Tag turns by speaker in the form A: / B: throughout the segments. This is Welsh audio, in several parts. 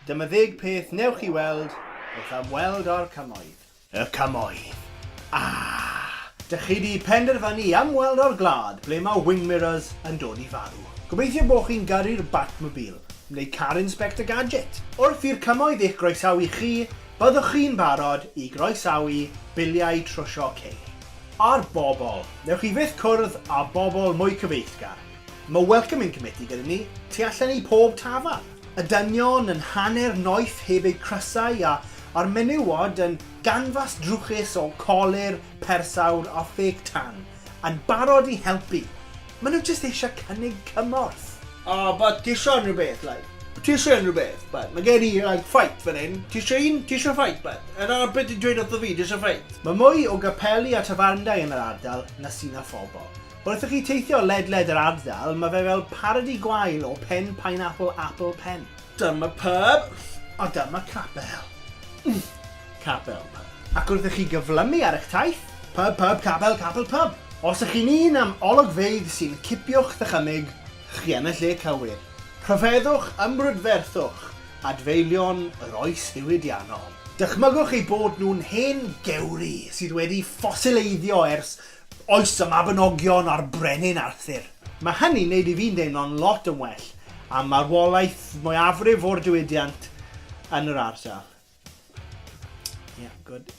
A: Dyma ddeg peth newch chi weld wrth ymweld â'r Cymoedd. Y Cymoedd. Ah! Dych chi di penderfynu i ymweld â'r gwlad ble mae wing mirrors yn dod i farw. Gobeithio bod chi'n gyrru'r Batmobile, neu car Inspector Gadget. Wrth i'r Cymoedd eich groesawu chi, byddwch chi'n barod i groesawu biliau trwsio ceir. Ar bobl. Newch chi fyth cwrdd â bobl mwy cyfeillgar. Mae Welcoming Committee gyda ni tu allan i pob tafarn. Y dynion yn hanner noeth heb eu crysau a a'r menywod yn ganfas drwchus o colur persawr a ffêc tan, yn barod i helpu! Ma nhw jyst eisiau cynnig cymorth. O, but ti isio unrhywbeth, like. Ti isio unrhywbeth, but. Mae gen i, like, fight fan hyn. Ti isio un? Ti isio fight, but. A dyna beth ti'n dweud wrtho fi, ti isio fight. Mae mwy o gapeli a tafarndai yn yr ardal na sydd â phobl. Wrth i chi teithio ledled yr ardal, mae fe fel parodi gwael o pen pineapple apple pen. Dyma pub, a dyma capel. Capel, Pub. Ac wrth i chi gyflymu ar eich taith, Pub, Pub, Capel, Capel, Pub. Os ych chi'n un am ologfeydd sy'n cipio'ch ddychymyg, chi yn y lle cywir. Rhyfeddwch, ymbrydferthwch, adfeilion yr oes ddiwydiannol. Dychmygwch eu bod nhw'n hen gewri sydd wedi ffosileiddio ers oes y Mabinogion a'r Brenin Arthur. Mae hynny'n neud i fi'n deimlo'n lot yn well am marwolaeth mwyafrif o'r diwydiant yn yr ardal. Ie, gwd.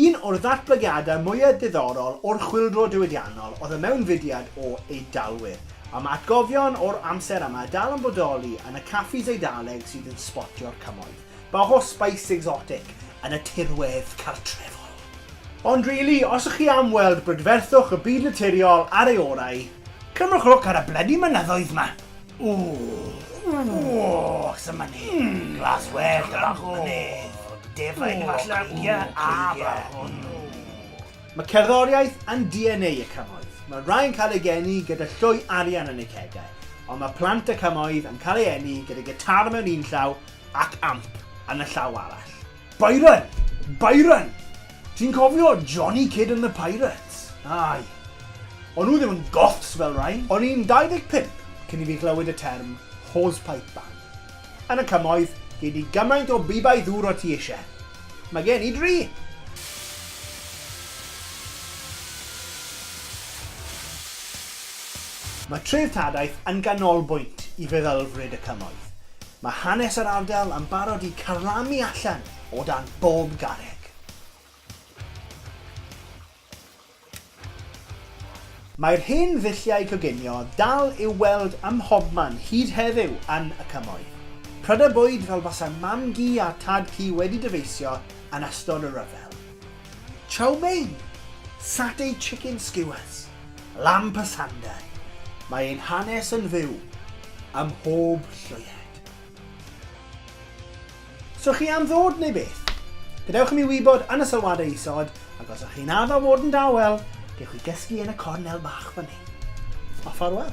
A: Un o'r ddatblygiadau mwyaf diddorol o'r chwyldro diwydiannol oedd y mewnfudiad o Eidalwyr, a mae atgofion o'r amser yma dal yn bodoli yn y caffis Eidaleg sydd yn sbotio'r cymoedd bach o spice exotic yn y tirwedd cartrefol. Ond rili, os ych chi am weld brydferthwch y byd naturiol ar ei orau, cymrwch lwc ar y blydi mynyddoedd 'ma! Ww! Ww! Sut mae ni? Glas wed a bach o mynydd. Defaid falle? Ie, a bach o nw. Mae cerddoriaeth yn DNA y cymoedd. Mae rhai yn cael eu geni gyda llwy arian yn eu cegau, ond mae plant y cymoedd yn cael eu eni gyda gitar mewn un llaw ac amp yn y llaw arall. Byron! Byron! Ti'n cofio Johnny Kidd and the Pirates? Aye. O'n nhw ddim yn goths fel rhain. O'n i'n 25 cyn i fi glywed y term 'hosepipe band'. Yn y cymoedd, gei di gymaint o bibau ddŵr o ti eisiau. Mae gen i dri! Mae treftadaeth yn ganolbwynt i feddylfryd y cymoedd. Mae hanes yr ardal yn barod i carlamu allan o dan bob garreg. Mae'r hen ddulliau coginio dal i'w weld ym mhobman hyd heddiw yn y Cymoedd. Prydau bwyd fel basai mam-gu a tad-cu wedi dyfeisio yn ystod y rhyfel. Chow mein, satay chicken skewers, lamb pasanday, mae ein hanes yn fyw ym mhob llwyed. So chi am ddod neu beth? Gadewch i mi wybod yn y sylwadau isod, ac os ych chi'n addo fod yn dawel, gewch chi gysgu yn y cornel bach fan hyn. A ffarwel.